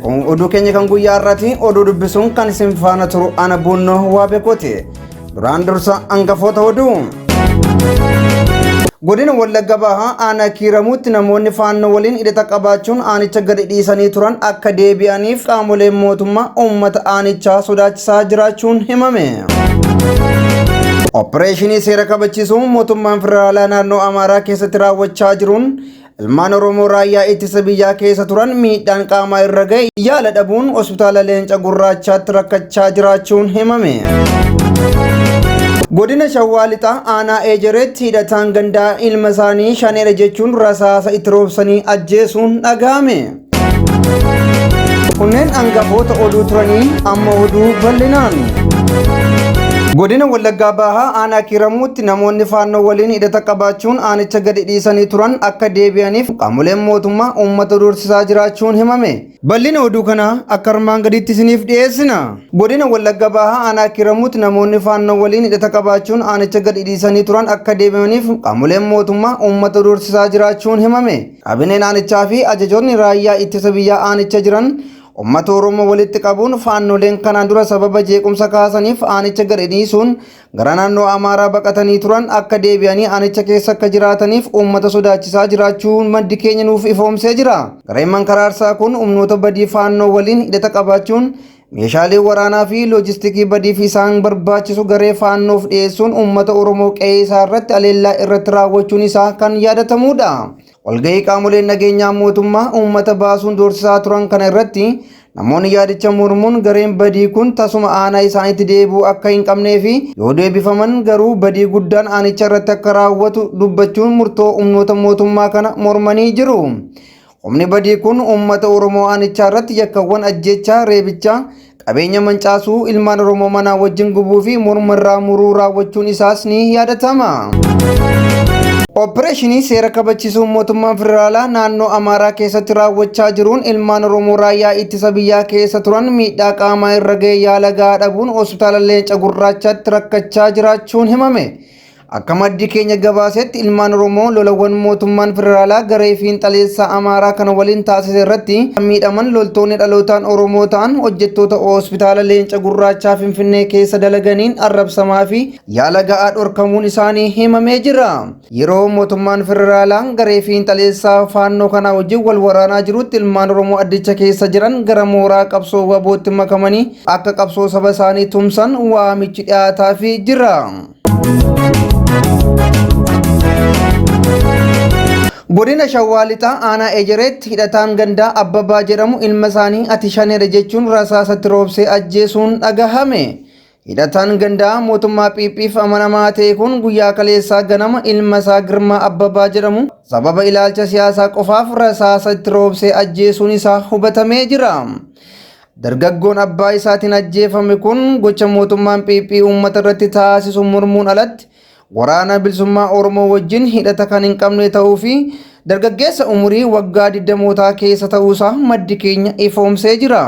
Kun oduu keenya kan guyyaa irratti oduu dubbisuun kan isin faana turu ana buunnoo waa beekuuti. Duraan dursa hangafoota oduu. Godina Wallagga Bahaa aanaa kiiramuutti namoonni faannoo waliin hidhata qabaachuun aanicha gadi dhiisanii turan akka deebi'aniif qaamoleen mootummaa uummata aanichaa sodaachisaa jiraachuun himame. Oppireeshinii seera kabachiisuu mootummaan federaalaa naannoo Amaaraa keessatti raawwachaa jiruun Ilmaan Oromoo raayyaa ittisa biyyaa keessa turan miidhaan qaamaa irra ga'e yaala dhabuun hospitaala leenca gurraachaatti rakkachaa jiraachuun himame. Godina Shawaa Lixaa aanaa Eejereetti hidhataan gandaa ilma isaanii shaneedha jechuun rasaasa itti roobsanii ajjeesuun dhaga'ame. Kunneen hangafoota oduu turanii amma oduu bal'inaan. Godina Wallaggaa Bahaa aanaa Kiiramuutti namoonni faannoo waliin hidhata qabaachuun aanicha gadi dhiisanii turan akka deebi'aniif qaamoleen mootummaa uummata doorsisaa jiraachuun himame. Bal'ina oduu kanaa akka armaan gadiitti isiniif dhiyeessina. Godina Wallaggaa Bahaa aanaa Kiiramuutti namoonni faannoo waliin hidhata qabaachuun aanicha gadi dhiisanii turan akka deebi'aniif qaamoleen mootummaa uummata doorsisaa jiraachuun himame. Kaabineen aanichaa fi ajajoonni raayyaa ittisa biyyaa aanicha jiran ummata Oromoo walitti qabuun faannoleen kanaan dura sababa jeequmsa kaasaniif aanicha gadi dhiisuun gara naannoo Amaaraa baqatanii turan akka deebi'anii aanicha keessa akka jiraataniif uummata sodaachisaa jiraachuu maddi keenya nuuf ifoomsee jira. Gareen mankaraarsaa kun humnoota badii faannoo waliin hidhata qabaachuun Meeshaalee waraanaa fi loojistikii badiif isaan barbaachisu garee faannoof dhiyeessuun uummata Oromoo qe'ee isaa irratti aleellaa irratti raawwachuun isaa kan yaadatamuudha. Walgahii qaamoleen nageenyaa mootummaa uummata baasuun doorsisaa turan kana irratti namoonni yaadicha mormuun gareen badii kun tasuma aanaa isaanitti deebi'uu akka hin qabnee fi yoo deebifaman garuu badii guddaan aanicha irratti akka raawwatu dubbachuun murtoo humnoota mootummaa kana mormanii jiru. Humni badii kun uummata Oromoo aanichaa irratti yakkawwan ajjeechaa, reebichaa, qabeenya mancaasuu, ilmaan Oromoo manaa wajjin gubuu fi morma irraa muruu raawwachuun isaas ni yaadatama. Oppireeshinii seera kabachiisuu mootummaan federaalaa naannoo Amaaraa keessatti raawwachaa jiruun ilmaan Oromoo raayyaa ittisa biyyaa keessa turan miidhaa qaamaa irra ga'e yaala gahaa dhabuun hospitaala Leenca Gurraachaatti rakkachaa jiraachuun himame. Akka maddi keenya gabaasetti ilmaan Oromoo lolawwan mootummaan federaalaa garee fiinxaleessaa Amaaraa kana waliin taasise irratti kan miidhaman loltoonni dhalootaan Oromoo ta'an hojjettoota hospitaala Leenca Gurraachaa Finfinnee keessa dalaganiin arrabsamaa fi yaala ga'aa dhorkamuun isaanii himamee jira. Yeroo mootummaan federaalaa garee fiinxaleessaa faannoo kanaa wajjin wal waraanaa jirutti ilmaan Oromoo addicha keessa jiran gara mooraa qabsoo wabootti makamanii akka qabsoo saba isaanii tumsan waamichi dhiyaataafii jira. Godina Shawaa Lixaa aanaa Ejereetti hidhataan gandaa Abbabaa jedhamu ilma isaanii ati shaneera jechuun rasaasatti roobsee ajjeesuun dhagahame. Hidhataan gandaa mootummaa PP'f amanamaa ta'e kun guyyaa kaleessaa ganama ilma isaa Girmaa Abbabaa jedhamu sababa ilaalcha siyaasaa qofaaf rasaasa itti roobsee ajjeesuun isaa hubatamee jira. Dargaggoon abbaa isaatiin ajjeefame kun gocha mootummaan PP uummata irratti taasisu mormuun alatti waraana bilisummaa Oromoo wajjin hidhata kan hin qabne ta'uu fi dargaggeessa umurii waggaa digdamootaa keessa ta'uu isaa maddi keenya ifoomsee jira.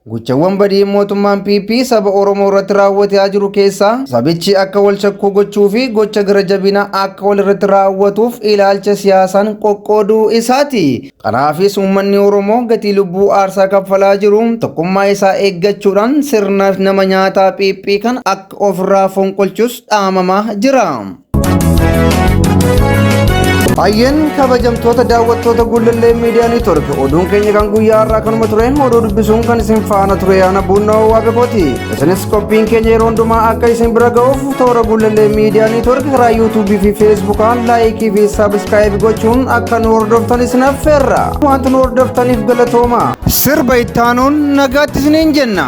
Gochawwan badii mootummaan PP saba Oromoo irratti raawwataa jiru keessaa sabichi akka wal shakkuu gochuu fi gocha gara jabinaa akka wal irratti raawwatuuf ilaalcha siyaasaan qoqqooduu isaati. Kanaafis uummanni Oromoo gatii lubbuu aarsaa kaffalaa jiru tokkummaa isaa eeggachuudhaan sirna nama nyaataa phiiphii kana akka ofirraa fonqolchus dhaamamaa jira. Hayyeen kabajamtoota daawwattoota Gullallee Miidiyaa Neetwork oduun keenya kan guyyaa har'aa kanuma ture oduu dubbisuun kan isin faana ture yaana buunnoo waaqakooti. Isinis qophiin keenya yeroo hundumaa akka isin bira ga'uuf toora Gullallee Miidiyaa Neetwoork karaa yuutuubii fi feesbuukaan laayikii fi saabiskaayibii gochuun akka nu hordoftan isin affeerra. Wanti nu hordoftaniif galatooma. Sirba ittaanuun nagaatti isiniin jenna.